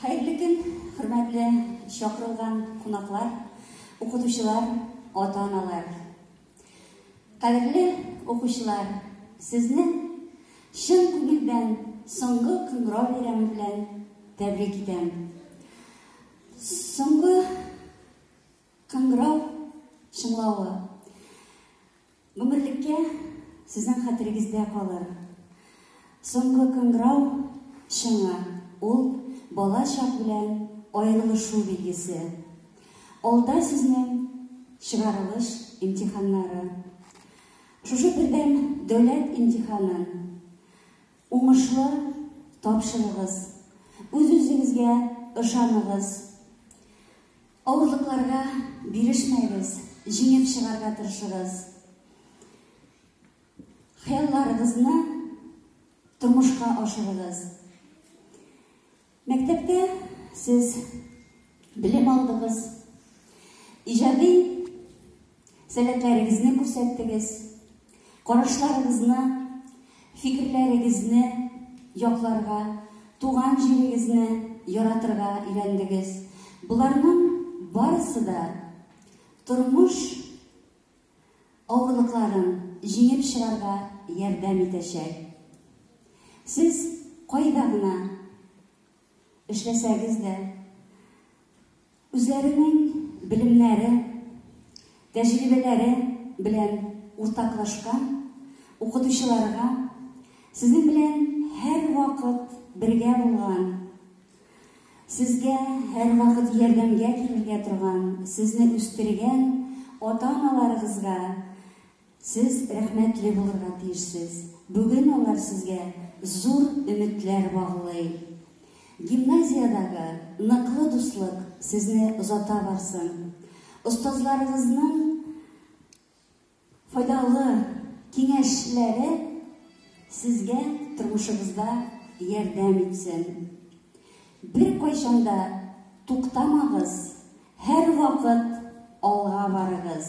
Хәерле көн, хөрмәтле чакырылган кунаклар, укытучылар, ата-аналар. Кадерле укучылар, сезне чын күңелдән соңгы кыңгырау бәйрәме белән тәбрик итәм. Соңгы кыңгырау чыңлавы Гомерлеккә сезнең хәтерегездә калыр Соңгы кыңгырау шыңы, ул, бала чак белән аерылышу билгесе. Алда сезнең чыгарылыш имтиханнары. Шушы бердәм дәүләт имтиханын уңышлы тапшырыгыз. Үз-үзегезгә ышаныгыз. Авырлыкларга бирешмәегез, җиңеп чыгарга тырышыгыз. Хыялларыгызны тормышка ашырыгыз. Мәктәптә сез белем алдыгыз. Иҗади Сәләтләрегезне күрсәттегез. Карашларыгызны, фикерләрегезне якларга, туган җирегезне яратырга өйрәндегез. Боларның барысы да тормыш авырлыкларын җиңеп чыгарга ярдәм итәчәк. Сез кайда гына эшләсәгез дә, үзләренең белемнәре, тәҗрибәләре белән уртаклашкан укытучыларга, сезнең белән һәрвакыт бергә булган, сезгә һәрвакыт ярдәмгә килергә торган, сезне үстергән ата-аналарыгызга, Сез рәхмәтле булырга тиешсез. Бүген алар сезгә зур өметләр баглый. Гимназиядәге ныклы дуслык сезне озата барсын. Остазларыгызның файдалы киңәшләре сезгә тормышыгызда ярдәм итсен. Беркайчан да туктамагыз, һәрвакыт алга барыгыз.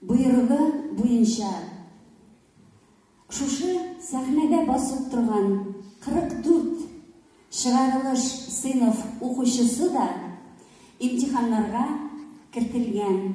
Боерыгы буенча, шушы сәхнәдә басып торган 44 чыгарылыш сыйныф укучысы да имтиханнарга кертелгән.